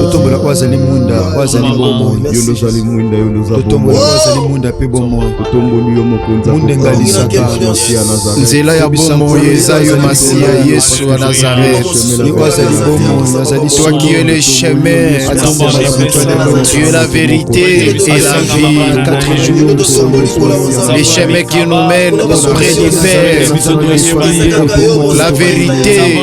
totombola oyo azali mwinda oyo azali bomoi yondozali mwinda yondozatombola oyo azali mwinda mpe bomoi totomboli yo mokonzinzela ya bomoi eza yo masiya yesu wa nazareth oyo azali bomoi azali toi qui es le chemin tu es la vérité et la vie le chemin qui nous mène auprès du père la vérité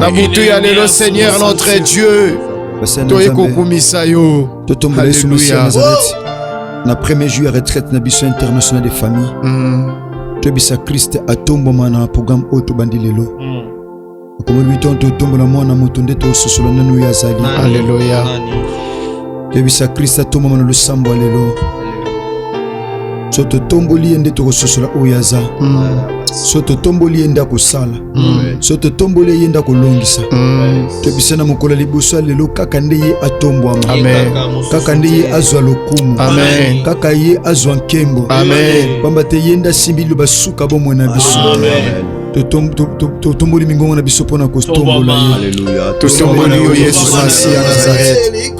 na butu ya lelo seigneur notre dieu toye kokumisa yo totombola yesu masiya ya nazareti na premier jour ya retraite na biso international de famille mm. toyebisa kriste atombwama na programme oyo tobandi lelo mm. okomoni bitonto otombola mwana moto nde tososola nanu oyo azali aleluya yebisa krista tomama na losambo ya lelo so totomboli ye nde tokososola oyo aza mm. so totomboli ye nde akosala mm. so totomboli ye ye nde akolongisa mm. toyebisa na mokolo ya liboso ya lelo kaka nde ye atombwama kaka nde ye azwa lokumu kaka ye azwa nkembo pamba te ye nde asimbi liloba suka bomoi na biso totomboli mingongo na biso mpo na kotombola yo totomboli yo yesu masi ya nazarete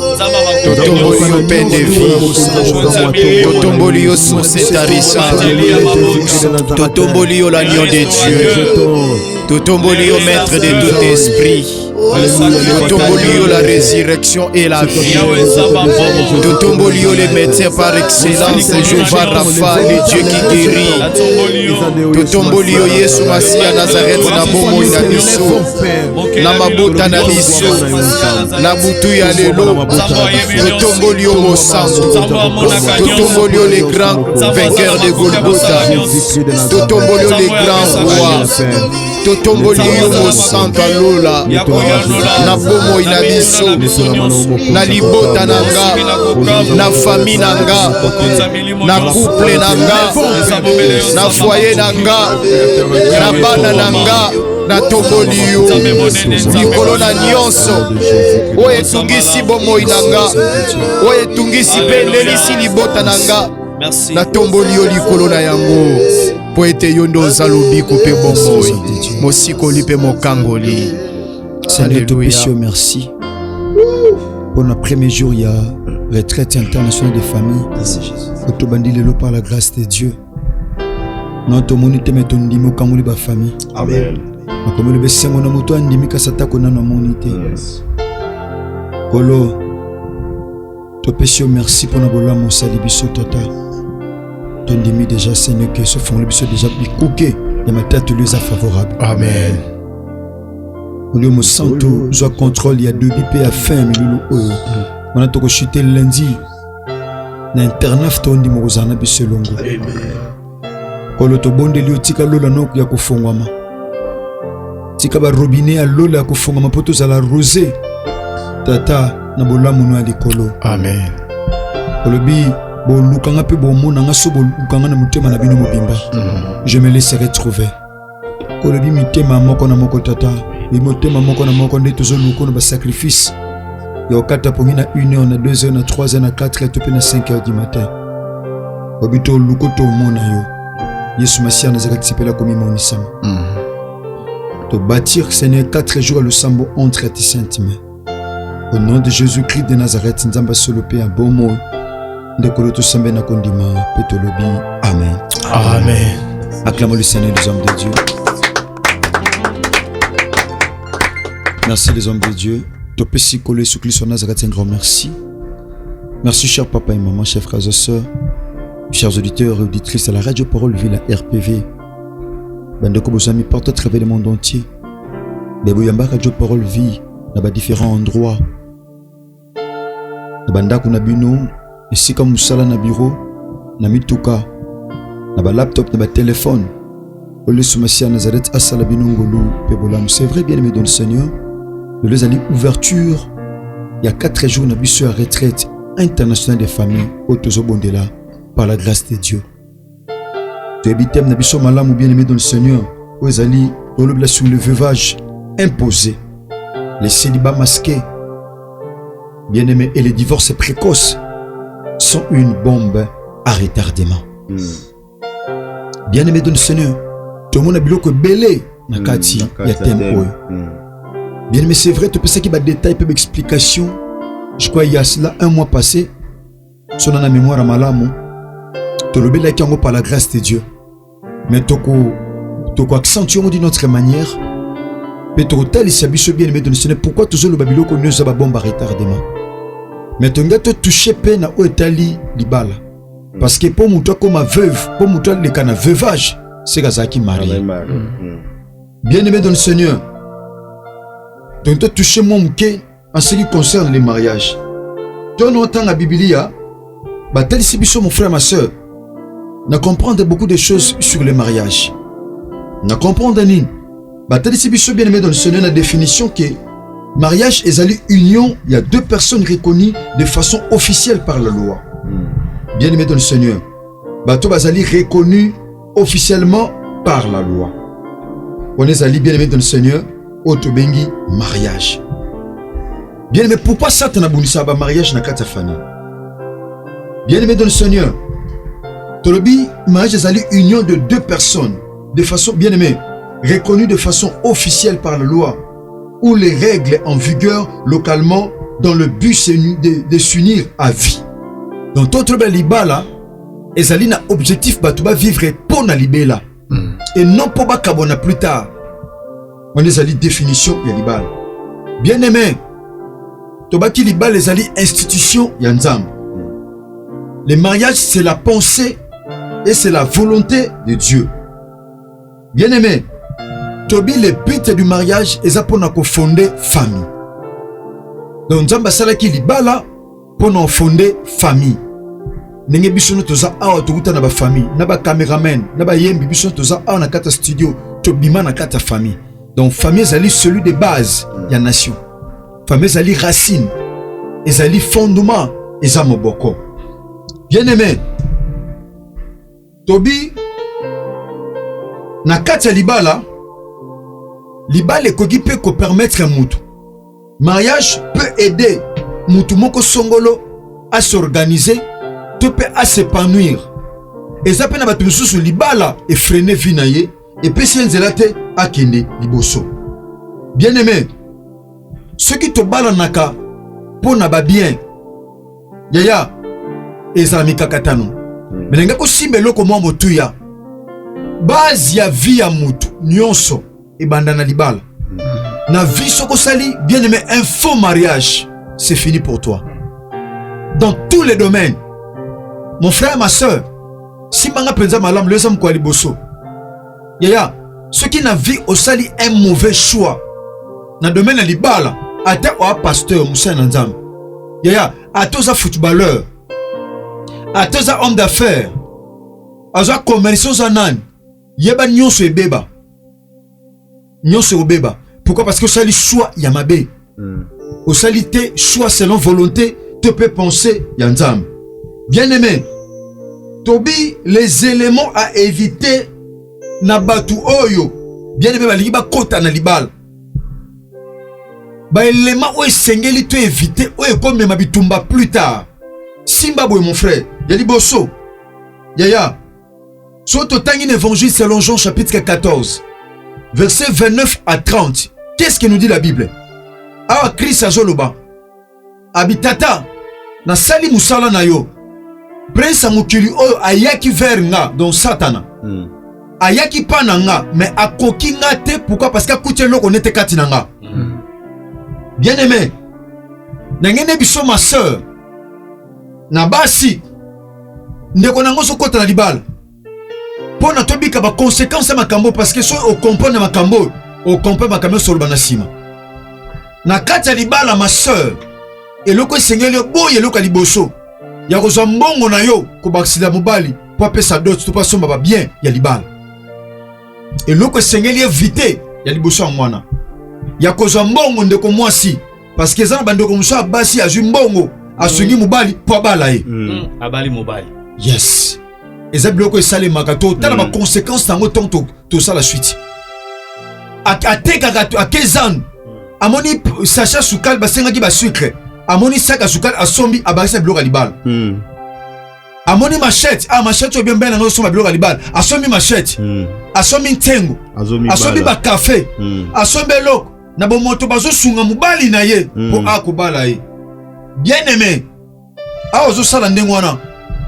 totomboli yo pain de vie totomboli yo source etarisa totomboli yo l'agneau de dieu totomboli yo maître de tout esprit totomboli yo la résurrection et la vie totomboli yo les médecins par excellence jehova rafa le dieu qui guérit totomboli yo yesu masiya nazarete na bomoi na biso na mabota na biso na butu ya lelo totomboli yo mosantu totomboli yo le grand vainqueur de golgota totomboli yo le grand roi totomboli yo mosantu ya lola na bomoi na biso na libota na nga na fami na nga na kuple na nga na fwaye na nga na bana na nga natomboli yo likolo na nyonso oyo etungisi bomoi na nga oyo etungisi mpe elelisi libota na nga natomboli yo likolo na yango mpo ete yo nde oza lobiko mpe bomoi mosikoli mpe mokangoli seigneur topesi yo merci mpo na premier jour ya retraite internationale de famille oyo tobandi lelo par la grâce de dieu non tomoni te me tondimi okangoli bafamille makomi lobi esengo na moto andimi kasi atako nano amoni te kolo yes. topesi yo merci mpo na bolamu osali biso tata tondimi deja seigneur ke sofungoli biso deja bikuke ya matatoli eza favorable amen olio mosantu zwa contrôle ya debi mpe ya fin milulu oyo wana tokoshute lundi na internet tondima kozala na biso elongo Nkolo, tobondeli yo, tika lola noko ya kofongwama, tika barobine ya lola ya kofongwama mpo tozala rose tata na bolamu no ya likolo. Amen. Olobi bolukanga mpe bomonanga so bolukanga na motema na bino mobimba. Mm. Je me laisserai trouver. olobi mitema moko na moko tata bimotema moko na moko nde tozoluka na basacrifice ya okata pongi na 1 heure na 2 heure na 3 heure na 4 heure to mpe na 5 heure du matin obi toluko tomona yo yesu masiya nazaka tisepela komimonisama mm. tobatir seigneur 4 jours ya losambo entre ti sainte main au nom de jésus christ de nazareth nzambe asolo mpe ya bomo ndeko lo tosembe na kondima mpe tolobi amen amen acclamons le seigneur les hommes de dieu merci les hommes de dieu topesi kolo yesu kristo nazareth un grand merci merci cher papa et maman chef frères et sœurs chers auditeurs et auditrices à la radio parole ville à rpv bandeko bozami porte travers le monde entier me boyambaka jo parole vie na badifférent endroit na bandako na bino esika mosala na biro na mituka na balaptop na batelefone oyo yesu masiya ya nazarete asala bino ngolu mpe bolamu c'est vrai bien aimé don seigneur lelo ezali ouverture ya 4 jours na biso ya retraite internationale des familles oyo tozobondela par la grâce de dieu toyebi teme na biso malamu bien aimé dans le seigneur oyo ezali olobela sur le veuvage imposé les célibats masqués bien aimé et les divorces précoces sont une bombe à retardement mm. bien aimé dans le seigneur tomona biloko ebele na hmm, kati ya teme oyo hmm. bien aimé c'est vrai topesaki badetail mpe baexplication je crois ya cela un mois passé sona na memoire malamu tolobelaki yango par la grâce de dieu mais toko toko accentue yango d'une autre manière mpe tokotalisa biso bien aimé donisione pourquoi tozoloba biloko nio eza babombe a retardement mais tolinga totouche mpe na oyo etali libala parce que mpo moto akóma veuve mpo moto aleka na veuvage seke azalaki marie ah, mm. bien aimé dans le seigneur donc totouche mwa moke en ce qui concerne le mariage tono otanga bibilia batalisi biso mon frère ma sœur na comprendre beaucoup de choses sur le mariage na comprendre nini batalisi biso bien aimé dans le seigneur na définition que mariage ezali union ya deux personnes reconnues de façon officielle par la loi hmm. bien aimé dans le seigneur bato bazali reconnus officiellement par la loi wana ezali bien aimé dans le seigneur oyo tobengi mariage bien aimé pourquoi satana abundisaka bamariage na kati ya famille bien aimé dans le seigneur tolobi mariage ezali union de deux personnes de façon bien aimé reconnue de façon officielle par la loi ou les règles en vigueur localement dans le but de, de s'unir à vie donc totoloba libala ezali na objectif bato bavivre mpo na libela mm. et non mpo bakabwana plus tard wana ezali définition ya libala bien aimé tobaki libala ezali institution ya nzambe le mariage c'est la pensée et c'est la volonté de dieu bien aimé tobi le but du mariage eza mpo na kofonde famille donc nzambe asalaki libala mpo na ofonde famille ndenge biso no toza awa tokuta na bafamille na bacameraman na bayembi biso no toza awa na kati ya studio tobima na kati ya famille donc famille ezali celui de base ya nation famille ezali racine ezali fondement eza moboko bien aimé Tobi, na kati ya libala, libala ekoki mpe kopermettre mutu. Mariage peut aider mutu moko songolo a s'organiser to mpe a s'épanouir. Eza mpe na bato mosusu libala efrene vie na ye epesi ye nzela te akende liboso. Bien aime, soki tobalanaka mpo na babien yaya ezala mikakatano hmm. melinga kosimba eloko mwa motuya base ya vie ya motu nyonso ebanda na libala hmm. na vie soki osali bien aimé un faux mariage c'est fini pour toi dans tous les domaines mon frère ma soeur simbanga mpenza malamu leza mokwa liboso yaya soki na vie osali un mauvais choix na domaine ya libala ata oa pasteur mosali na nzambe yaya ata oza footballeur ata oza homme d'affaires aza commerce oza nani yeba nyonso ebeba nyonso ekobeba pourquoi parce que osali choix ya mabe mm. osali te choix selon volonté to mpe pensée ya nzambe bien aimé tobi les éléments à éviter na bato oyo bien aimé balingi bakota na libala baelema oyo esengeli to éviter oyo ekomema bitumba plus tard simba boye mon frère ya liboso yaya soki totangi na évangile selon jean chapitre 14 verset 29 à 30 qu'est ce que nous dit la bible awa kristo azoloba abi tata nasali mosala na yo prince ya mokili oyo ayaki vers nga donc satana mm. ayaki mpa na nga me akoki nga te pourkui parce que akuti eloko nete kati na nga mm. bien aimé ndenge nde biso ma sœur na basi ndeko nango ozokota na libala mpo na tobika bakonsekanse ya makambo parce que soki okomprendre makambo oyo okomprendre makambo nyonso oloba na nsima na kati ya libala ma sœur eloko esengeli oboya eloko ya liboso ya kozwa mbongo na yo kobakisila mobali mpo apesa dote to mpo asomba babien ya libala eloko esengeli evite ya liboso ya mwana ya kozwa mbongo ndeko mwasi parce que eza na bandeko mosusu ya basi azwi mbongo asungi mm. mobali mpo abala ye mm. mm. abali mobali yes eza biloko esalemaka to tala baconséquence na yango ntango tosala suite atekaka akezan amoni sacha sukali basengaki basucre amoni saka sukali asombi abakisa biloko ya libala amoni machete ah machete oyo biombe na ngai osomba biloko ya libala asombi machete asombi ntengo asombi bakafe asombi eloko na bomoto bazosunga mobali na ye mpo mm. akobala ye bien aime awa ozosala ndenge wana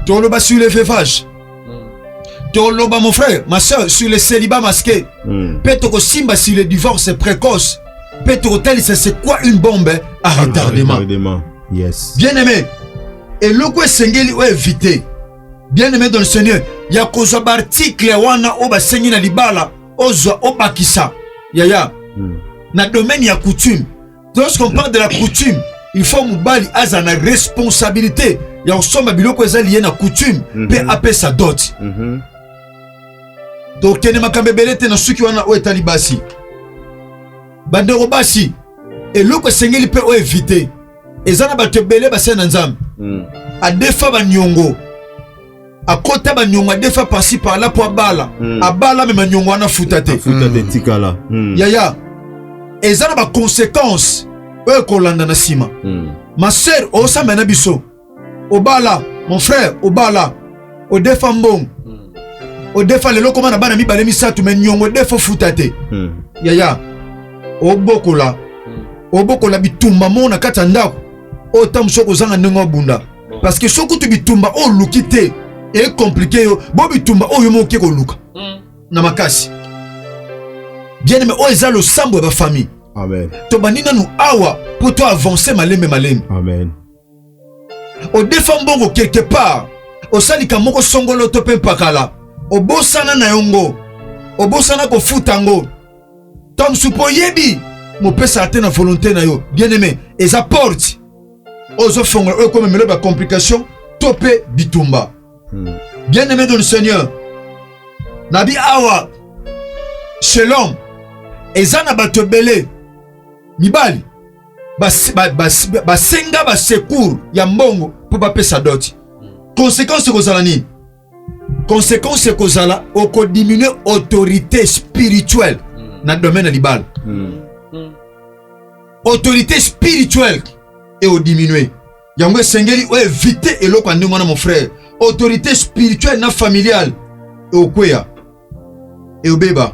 toloba sur le veuvage mm. toloba mon frère ma soeur sur le célibat masqué mm. mpe tokosimba sur le divorce précoce mpe tokotalisa c'est quoi une bombe à retardement yes. bien aime eloko esengeli oyo evite bien aime dans le seigneur ya kozwa baartikle wana oyo basengi na libala ozwa obakisa yaya hmm. na domaine ya coutume lorsqu'on parle de la coutume il faut mobali azala na responsabilité ya kosomba biloko eza liye na coutume mpe mhm. apesa dot mhm. donc kende makambo ebele te na suki wana oyo etali basi bandeko basi eloko esengeli mpe oyo evite eza na bato ebele basali na nzambe hmm. adefa baniongo akota banyonga defa pasi pala mpo abala mm. abala me manyongo wana afuta te hmm. tikala mm. yaya eza na baconséquence oyo ekolanda na nsima mm. ma sœur osambela na biso obala mon frère obala odefa mbongo mm. odefa lelo koma na bana mibale misato me nyongo defa ofuta te mm. yaya obokola mm. obokola bitumba moko na kati ya ndako oyo ntango mosusu okozanga ndenge obunda parce que soki kutu bitumba oyo oluki te ecomplike yo bo bitumba oyo yo moke koluka hmm. na makasi bien aime oyo eza losambo ya bafamille tobandi nanu awa mpo to avance malembe malembe odefa mbongo quelque part osalika moko songolo to mpe mpakala obosana na yo ngo obosana kofuta ngo ntango mosusu mpo oyebi mopesaka te na volonté na yo bien aime eza porte oyo ezofongola oyo ekomemela ba complication to mpe bitumba hmm. bien aimé de le seigneur nabi awa chez l'homme eza na bato ebele mibali basenga bas, bas, bas, basecour ya mbongo mpo bapesa doti hmm. konsekanse ekozala nini conséquence ekozala okodiminue autorité spirituelle hmm. na domaine ya libala hmm. Hmm. autorité spirituelle eodiminue yango esengeli oevite eloko ya ndenge wana mon frère autorité spirituelle na familiale eokweya eobeba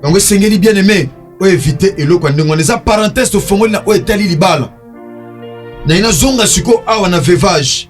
yango esengeli bien aimé oevite eloko ya ndenge wana eza parenthèse tofongoli na oyo etali libala naye nazonga sikoyo awa na vevage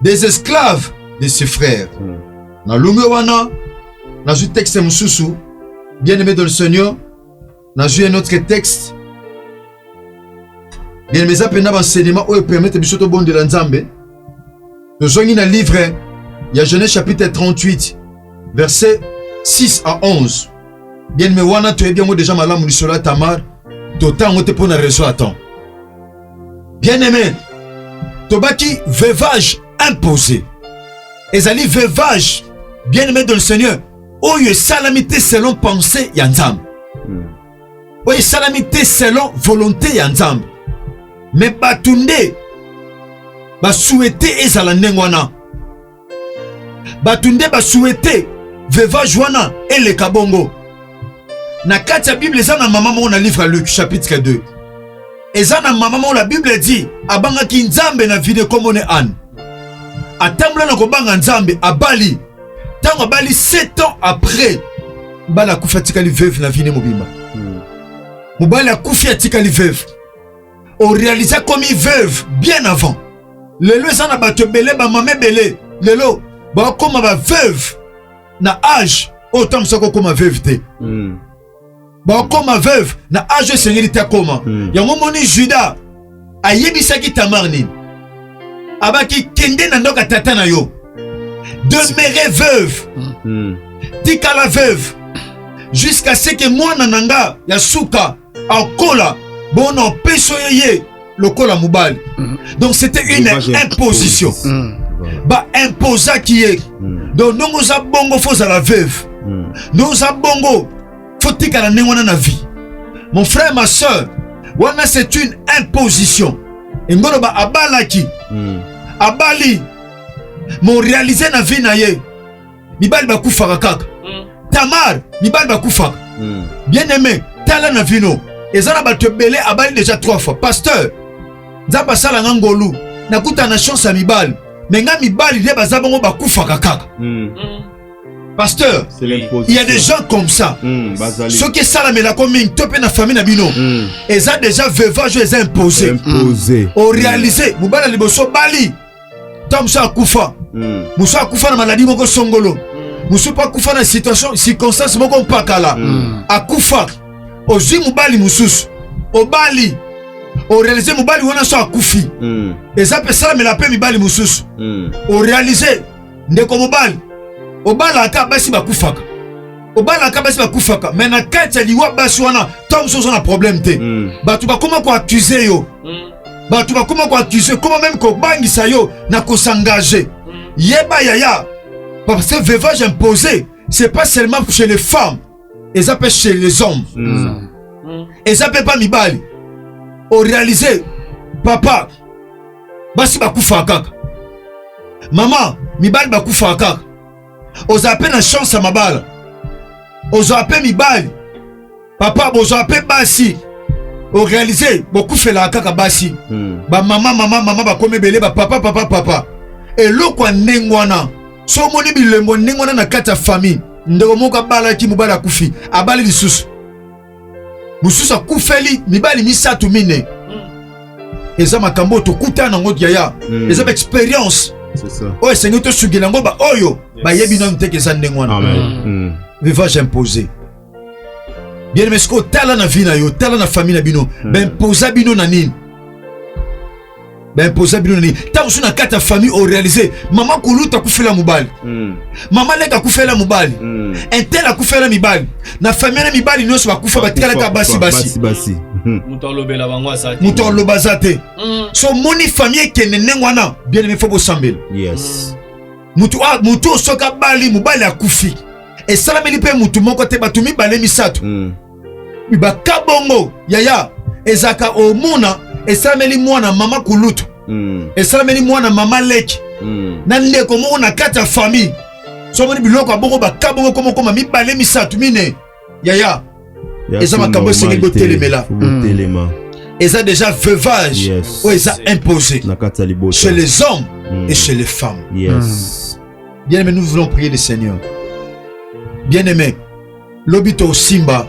des esclaves de ses frères hmm. na longwe wana nazwi texte mosusu bien aimé dans le seigneur nazwi un autre texte bien aimé eza mpenza baenseignement oyo epermete biso tobondela nzambe tozongi na livre ya genèse chapitre 38 verset 6 à 11 bien aimé wana toyebi yango deja malamu lisolo ya tamar totango te mpo na raison ya temps bien aime tobaki veuvage imposé ezali veuvage bien aime de le seigneur oyo esalami te selon pensée ya nzambe hmm. oyo esalami te selon volonté ya nzambe me bato nde basuete ezala ndenge wana bato nde basuete vevage wana eleka bongo na kati ya bible eza na mama moko na livre ya luke chapitre 2 eza na mama moko la bible edi abangaki nzambe na vide nkombo ne ane atambola na kobanga nzambe abali ntango abali 7 ans après mbala akufi atikali veuve na vine mobimba hmm. mobali akufi atikali veuve orealisa komi veuve bien avant lelo eza na bato ebele bamama ebele lelo bakoma baveuve na age oyo ntango mosusu akokoma veuve te mm. bakoma veuve na age oyo esengeli te akoma mm. yango moni juda ayebisaki tamar nini abaki kende na ndoka tata na yo demere veuve mm. tikala veuve jusqu'à ce que mwana na nga ya suka akola bona opeso ye ye lokola mobali mm. donc c'était une imposition mm. ba imposaki ye mm. donc ndongo oza bongo fo ozala veuve ndongo oza bongo fo tikala ndenge wana na vie mon frère ma soeur wana c'est une imposition engoloba abalaki abali mo réalise na vie na ye mibali bakufaka kaka mm. tamar mibali bakufaka mm. bien aime tala na vino eza na bato ebele abali deja trois fois pasteur nzambe asala nga ngolu nakuta na chance ya mibali me nga mibali nde baza bango bakufaka kaka mm. pasteur il y a des gens comme ça mm, soki esalamelako mingi to mpe na famille na bino mm. eza deja veuvage oyo eza impose orealise mobali ya liboso bali ntango mosusu akufa mm. mosusu akufa na maladi moko songolo mm. mosusu mpe akufa na situation circonstance moko mpakala mm. akufa ozwi mobali mosusu obali orealize mobali wana so akufi mm. eza mpe esalamela mpe mibali mosusu mm. orealize ndeko mobali obalaka basi bakufaka obalaka basi bakufaka me na kati ya liwa basi wana ntango mosusu oza na problème te mm. bato bakoma koaccuse yo mm. bato bakoma koaccuse koma meme kobangisa yo na kosengage mm. yeba yaya parce que vevage imposé c'est pas seulement chez les femmes eza mpe chez les hommes mm. Mm. eza mpe mpa mibali orealize papa basi bakufaka kaka mama mibali bakufaka kaka ozala mpe na chance ya mabala ozala mpe mibali papa bozala mpe basi orealize bokufelaka kaka basi hmm. bamama mama mama bakomi ebele bapapa papa papa eloko ya ndenge wana so omoni bilembo ndenge wana na kati ya famille ndeko moko abalaki mobali akufi abali lisusu mosusu akufeli mibali misato mine eza makambo oyo tokutana nango yaya mm. eza baexperience oyo esengi tosukela yango baoyo bayebi nano teke eza ndenge wana mm. mm. vivage impose bien aime sikoyo tala na vie na yo tala na famille na bino mm. baimposa bino na nini baimposa bino nini ntango so na kati ya famille orealise mama kuluta akufela mobali mm. mama leka akufela mobali mm. intel akufela mibali na famille na mibali nyonso bakufa batikalaka basi basi hmm. moto aloba aza te hmm. so omoni famille ekende ndenge wana bien aime fo bosambela yes. mm. moto osoki abali mobali akufi esalameli mpe motu moko te bato mibale misato mm. baka bongo yaya ezalaka omona esalameli mwana mama kulutu mm. esalameli mwana mama leki mm. na ndeko moko na kati ya famille somoni biloko ya bongo baka bongo komokoma mibale misato mine yaya eza makambo esengeli kotelemela hmm. eza déjà veuvage oyo eza imposé chez les hommes hmm. et chez les femmes yes. Hmm. bien aimé nous voulons prier le seigneur bien aimé Lobi to Simba,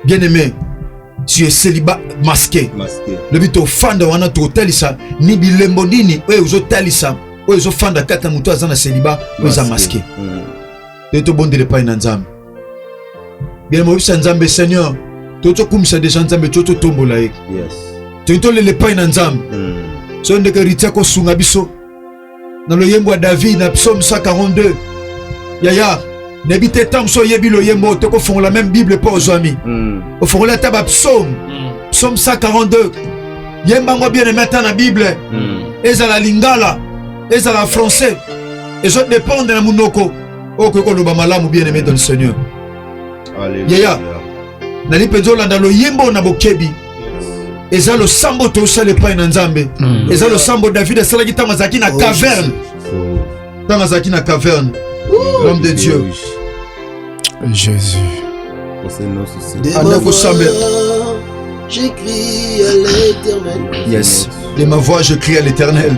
bien aimé, tu es célibat masqué. masqué. Lobi to fanda wana to talisa ni bilembo nini oyo ozo talisa oyo ezo fanda kata moto aza na célibat oyo eza masqué. Mm. Te to bondele pai na Nzambe. Bien moyebisa Nzambe Seigneur, to to kumisa deja Nzambe to to tombola ye. Yes. To to lele pai na Nzambe. Mm. So ndeke ritia ko sunga biso. na loyembo ya David na psaume 142 yaya nayebi te ntango so oyebi loyembo oyo tokofongola meme bible mpo ozwami mm. ofongola ata bapsaume mm. psaume 142 yemba yango bien aime ata na bible mm. ezala lingala ezala français ezo dépendre na monoko oyo okoki koloba malamu bien aime dans le seigneur yaya nali mpenza olanda loyembo na bokebi eza losambo tosala epai na nzambe mm. eza losambo david asalaki ntango azalaki na oh, caverne ntango azalaki na caverne l'homme de dieu jésus anda kosambela J'écris à l'éternel. Yes. De ma voix, je crie à l'éternel.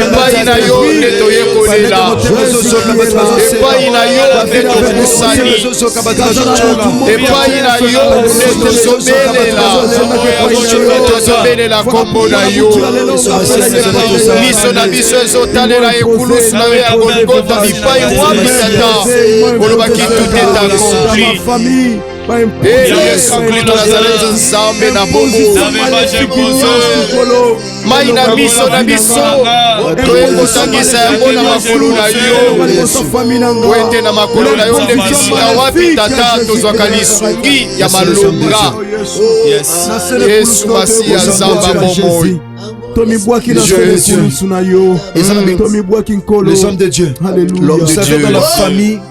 epai na yo nde toye kolela epai na yo nde tobusani epai na yo nde tozobelela tozobelela nkombo na yo miso na biso ezotalela ekulusu na yo ya golgota bipai wapi tata olobaki tout est accompli Yesu Kristo Nazareti, Nzambe na bongo, mai na miso na biso toye kosangisa yango na makolo na yo, po ete na makolo na yo nde bisika wapi Tata tozwaka lisungi ya malonga. Yesu Masiya, Nzambe ya bomoi tomibwaki na solusu na yo tomibwaki nkolo l'homme de Dieu l'homme de Dieu la famille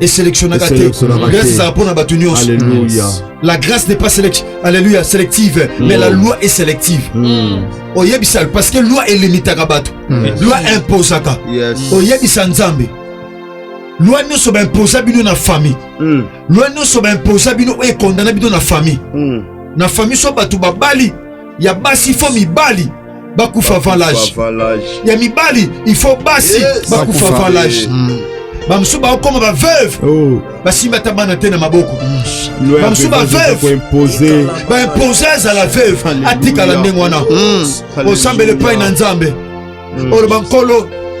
eselectionnaka te grâce ezala mpo na bato nyonso la grâce n'est pas select alléluia sélective mm. mais la loi est sélective mm. oyebisa parce que loi elimitaka bato mm. loi imposaka oyebisa nzambe loi nyonso baimposa bino na famille mm. loi nyonso baimposa bino oyo ekondana bino na famille mm. na famille so bato babali ya basi fo mibali bakufa valage ya mibali il faut basi bakufa valage hmm. bamosusu bakokoma baveuve oh. basimbi ata bana te na maboko hmm. bamosusu baveuve baimpose azala veuve atikala ndenge wana hmm. osambela epai na nzambe oloba nkolo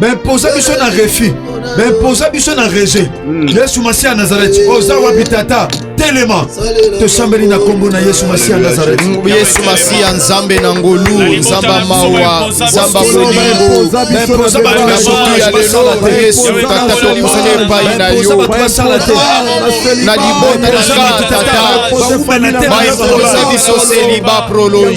baimposa biso na refus baimposa biso na rejet hmm. yesu masiya ya nazareti oza wapi tata telema tosambeli na nkombo na yesu masiya ya nazareti hmm, yesu masiya nzambe na ngolu nzambe ya mawa nzambe ya bolingobaimposa bato na soki ya lelo yesu tata tokosani epai na yo na libota na nga tata baimposa biso seliba prolonge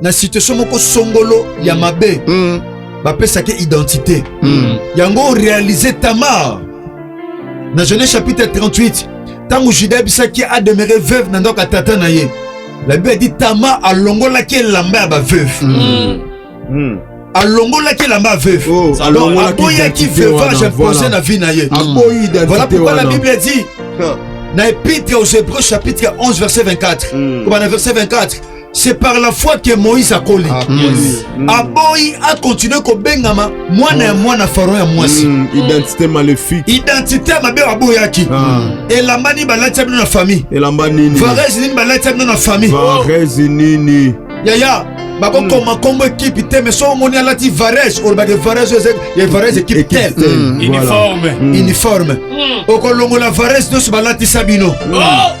na situation moko songolo ya mabe mm. bapesaki identité mm. yango réalise tamar na genèse chapitre 38 ntango juda ayebisaki ademeure veuve na ndako ya tata na ye la bible dit tamar alongolaki elamba ya baveuve mm. mm. alongolaki elamba ya veuve oh, aboyaki veuvage impose na vie na ye voilà pourquoi la bible dit na epitre aux hébreux chapitre 11 verset 24 mm. verset 24 c'est par la foi que moïse akoli ah, yes. mm. aboyi akontinue kobengama mwana ya mwana faro ya mwasi mm. identité maléfique identité ya mabe aboyaki ah. elamba nini balati ya bino na famille elamba nini varese nini balati ya bino na famille varese nini yaya bakokoma mm. nkombo ekipe te mais soki omoni alati varese olobaki varese oyo ya varese ekipe tel uniforme uniforme okolongola varese nyonso balatisa bino oh!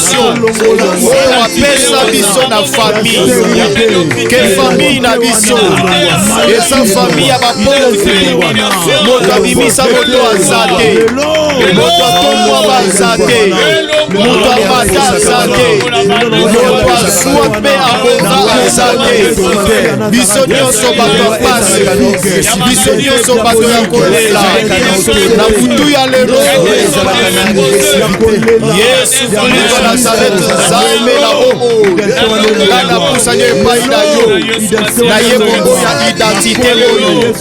protection oyo apesa biso na famille ke famille na biso eza famille ya bapauvre moto abimisa moto aza te moto atomwa baza te moto amata aza te moto aswa mpe abonga aza te biso nyonso bato ya pasi biso nyonso bato ya kolela na butu ya lelo yesu kristo nazareti nzambe na bomo ngai napusani epai na yo naye bongo ya identite oyo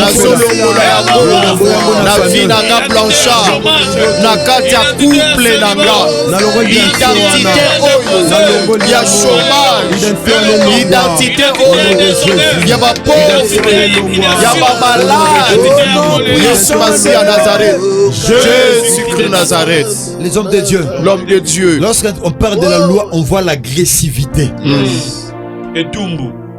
nazolongola yango na vi na nga blanchard na kati ya couple na nga identité oyo ya chômage identité oyo ya bapauvre ya bamalade yesu masi ya nazareth Jésus-Christ Nazareth. Les hommes de Dieu. L'homme de Dieu. Lorsqu'on parle de la loi, on voit l'agressivité. Mmh. Et Dumbo.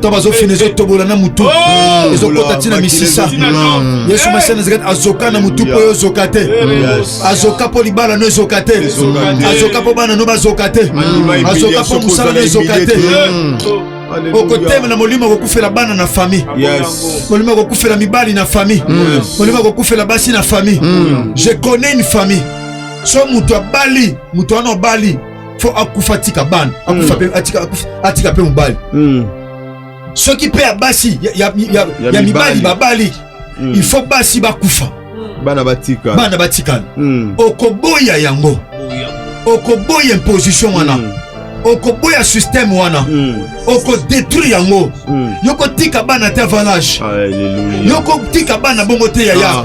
to bazofina ezotobola na motu oh! ezokota ntina misisa yesu masiya nazekati azoka na motu mpo ezoka te azoka mpo libala no ezoka te azoka mpo bana no bazoka te azoka mpo mosala no ezoka te okotemela molimo akokufela bana na fami molimo akokufela mibali na fami molimo akokufela basi na fami je connais une famille so moto abali moto wana obali fo akufa atika bana akufa hmm. pe atika akufa atika pe mobali hmm. soki pe ya basi ya, ya, ya, ya, ya mibali babali hmm. il faut basi bakufa bana batikala bana batikala hmm. okoboya yango okoboya imposition wana hmm. okoboya système wana hmm. okodétruire yango hmm. yokotika bana te avanage yokotika bana bongo te yaya ah.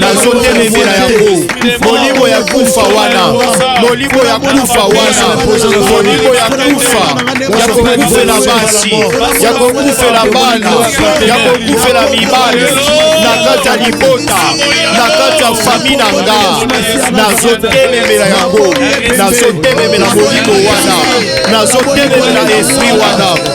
nazotelemela yango molimo ya kufa wana molimo ya kufa wana molimo ya kufa ya kokufela basi ya kokufela bana ya kokufela mibali na kati ya libota na kati ya fami na nga nazotelemela yango nazotelemela molimo wana nazotelemela esprit wana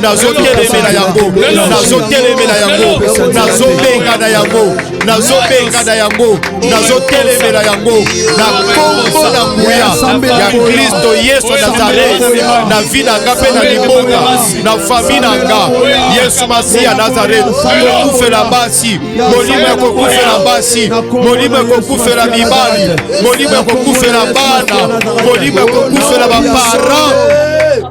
nazotelemela yango nazotelemela yango nazobenga na yango nazobenga na yango nazotelemela yango na kombo na nguya ya kristo yesu nazareti na vi na nga mpe na libonga na fami na nga yesu masiya nazareti kokufela basi molimo ya kokufela basi molimo ya kokufela mibali molimo ya kokufela bana molimo ya kokufela baparent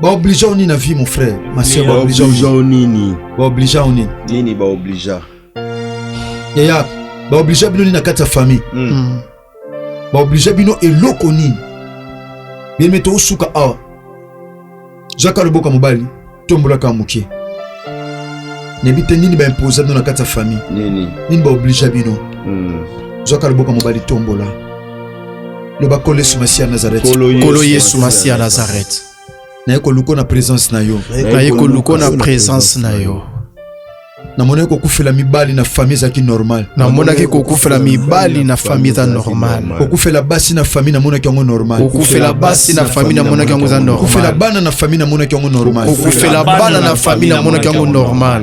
ba obligea yo nini na vie mon frère ma sœur ba obligea yo nini ba obligea yo nini nini ba obligea yaya ba obligea bino nini na kati ya famille hmm. Hmm. ba obligea bino eloko nini biyeme tosuka awa zwaka loboko ya mobali tombolaka moke nayebi te nini baimposa bino na kati ya famille nini baoblige bino hmm. zwaka loboko ya mobali tombola loba nkolo yesu masiya nazareth nkolo yesu masiya nazareth naye koluko na presence na yo naye koluko na presence na yo namonaki kokufela mibali na famille ezalaki normal namonaki kokufela mibali na famille eza normal kokufela basi na famille namonaki yango normal kokufela basi na famille namonaki yango eza normal kokufela bana na famille namonaki yango normal kokufela bana na famille namonaki yango normal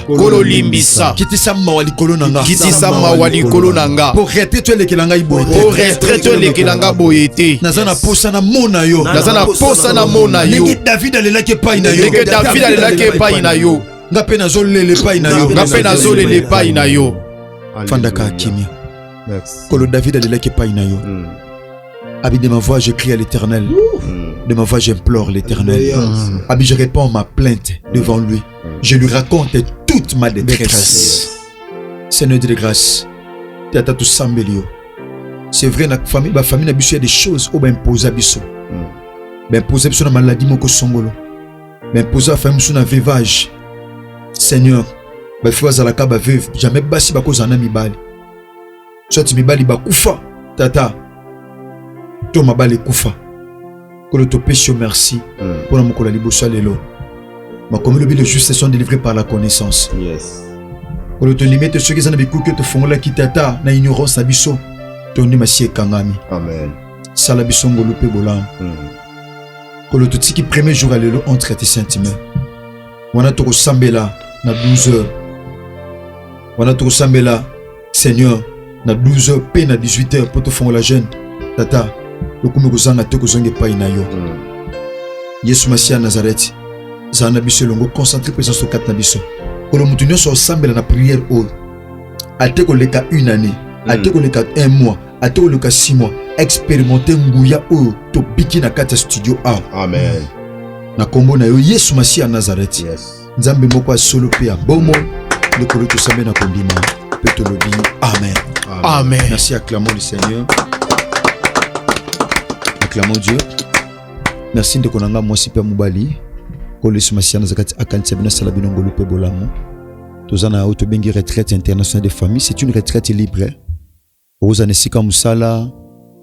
kolo limbisa kitisa mawa likolo na nga kitisa mawa likolo na nga po retraite elekela ngai boye te po retraite elekela ngai boye te naza na posa na mona yo naza na posa na mona yo ndenge David alelaki epai na yo ndenge David alelaki epai na yo nga pe nazolela epai na yo nga pe nazolela epai na yo fandaka kimia kolo David alelaki epai na yo hmm. Abi de ma voix je crie à l'éternel hmm. de ma voix j'implore l'éternel hmm. Abi je réponds ma plainte devant lui je lui raconte toute ma détresse seigneur de grâce tata tosambeli yo c'est vrai na famille ba famille na biso ya des choses oyo baimposa biso hmm. baimposa biso na maladie moko songolo baimposa bafamille biso na vivage seigneur bafi bazalaka baveuve jamais basi bakozala na mibali soit mibali bakufa tata to mabali ekufa kolo topesi yo merci hmm. mpo na mokolo ya liboso ya lelo makomi lobi le juste sont délivrés par la connaissance yes. kolo tondimi ete soki eza na bikuki tofungolaki tata na ignorance na biso tondima si ekangami sala biso ngolu mpe bolamu hmm. kolo totiki premier jour ya lelo entre te sentiment wana tokosambela na 12 heures wana tokosambela Seigneur, na 12h pe na 18h po tofongola jeune. Tata, lokumu ekozanga te kozonga epai na yo. Mm. Yesu Masiya Nazareti, zala na biso elongo, concentre présence au kati na biso. Kolo moto nyonso osambela na prière oyo. Ate koleka une année, mm. ate koleka un mois, ate koleka six mois, expérimenter nguya oyo tobiki na kati ya studio awa. Amen. Na kombo na yo Yesu Masiya Nazareti. Yes. Nzambe moko ya solo mpe ya bomoi, lokolo tosambe na kondima mpe tolobi amen. Amen. Merci, acclamons le Seigneur. Acclamons Dieu. Merci ndeko na ngai mwasi mpe mobali oyo yesu masiya naza kati akanisa bino asala bino ngolu mpe bolamu toza na oyo tobengi retraite internationale de famille c'est une retraite libre okozala na esika mosala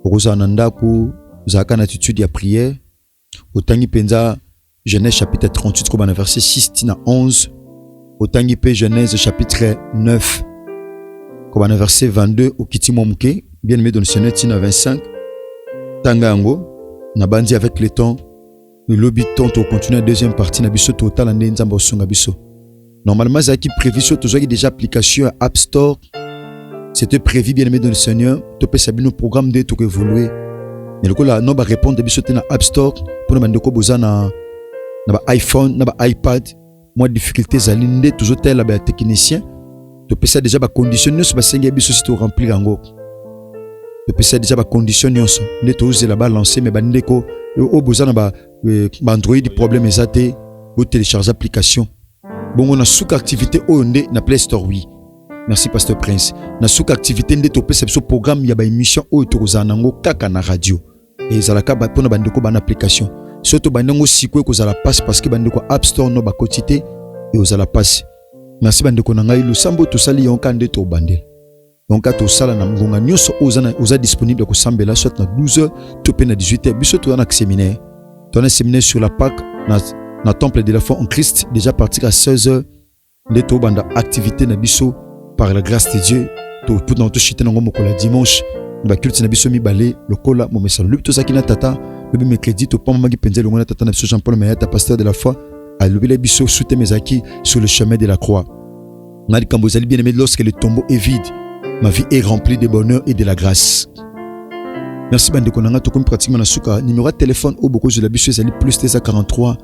okozala na ndako ozalaka na attitude ya prière otangi mpenza Genèse chapitre 38 koba na verset 6 tina 11 otangi mpe Genèse chapitre 9 koba na verset 22 okiti mwa moke bien aimé dans le Seigneur tina 25 tanga yango na banzi avec le temps lobi temps tokocontinue na deuxième partie na biso totala nde nzambe osunga biso Normalement, ezalaki prévu sur tozwaki déjà application App Store. C'était prévu bien aimé dans le Seigneur, topesa bino programme de tout évoluer. Mais lokola no ba répondre biso te na App Store pour na ndeko boza na na ba iPhone, na ba iPad, moi difficulté ezali nde tozotala ba technicien topesa déjà ba condition nyonso basengi biso si to remplir yango topesa déjà ba condition nyonso nde tozela ba lancer mais bandeko oyo boza na ba, euh, ba Android problème eza te bo télécharger application bongo na suka activité oyo nde na play store oui merci pasteur prince na suka activité nde topesa biso programme ya baémission oyo tokozala nango kaka na radio ezalaka mpo na bandeko bana application soki tobandi yango sikoyo ekozala mpasi parceke bandeko ya app store no bakoti te ekozala mpasi merci bandeko na ngai losambo tosali yango kaka nde tobandela donc ata osala na ngonga nyonso oyo oza, oza disponible ya kosambela soit na 12 h to mpe na 18 h biso toza na séminaire toza na séminaire sur la Pâque na, na temple de la foi en Christ déjà partir à 16 h nde tobanda activité na biso par la grâce de Dieu toputana toshite nango mokolo ya dimanche na baculte na biso mibale lokola momesano lobi tozalaki na tata lobi mercredi topamamaki mpenza elongo na tata na biso jean paul mayata pasteur de la foi alobela biso suteme ezalaki sur le chemin de la croix nga likambo ezali bien aimé lorsque le tombeau est vide ma vie est remplie de bonheur et de la grâce merci bandeko na nga tokomi pratiquement na suka numéro ya telefone oyo bokozwela biso ezali plus 243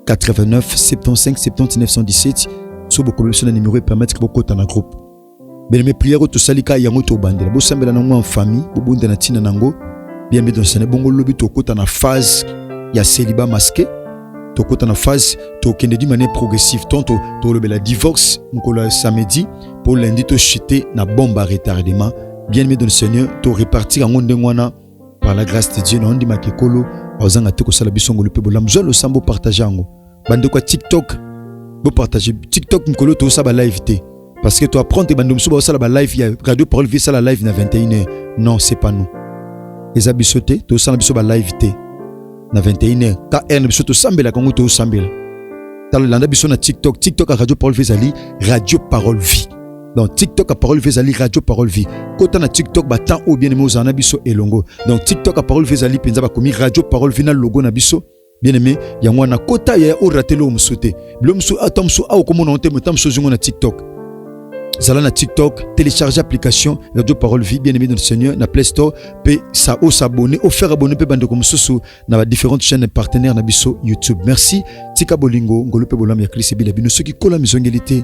89 75 70 917 so bokomi biso na numéro epermettre bokota na groupe beleme prière oyo tosali ka yango tobandela bosambela na yango en famille bobunda na ntina na yango bien midonsane bongo lobi tokota na phase ya celiba masqué tokota na phase tokende di manière progressive to tolobela divorce mokolo ya samedi mpo lundi tochute na bombe ya retardement bien aimé dans le seigneur to repartir yango ndenge wana par la grâce de dieu na ondimaka ekolo aozanga te kosala biso ngolu mpe bolamu zwa losambo partage yango bandeko ya tiktok bopartage tiktok mokolo tosala balive te Parce que tu apprends tes bandes musuba osala ba live ya radio parole vie sala live na 21h. Non, c'est pas nous. Eza biso te, to sala biso ba live te. Na 21h, ta heure na biso to sambela kango to sambela. Talo landa biso na TikTok, TikTok à radio parole vie zali radio parole vie. Donc TikTok à parole vie zali radio parole vie. Kota na TikTok ba temps ou bien mo zana biso elongo. Donc TikTok à parole vie zali penza ba komi radio parole vie na logo na biso. bien aimé yango wana kota ya orate eloko mosusu te bilo mosusu ata ah, mosusu awa komona te mota mosusu ozongo na tiktok zala na tiktok télécharge application radio parole vie bien aimé dans le seigneur na play store mpe sa o s'abonne o faire abonne mpe bandeko mosusu na ba différentes chaînes partenaires na biso youtube merci tika bolingo ngolu mpe bolamu ya klise bila bino soki kola mizongeli te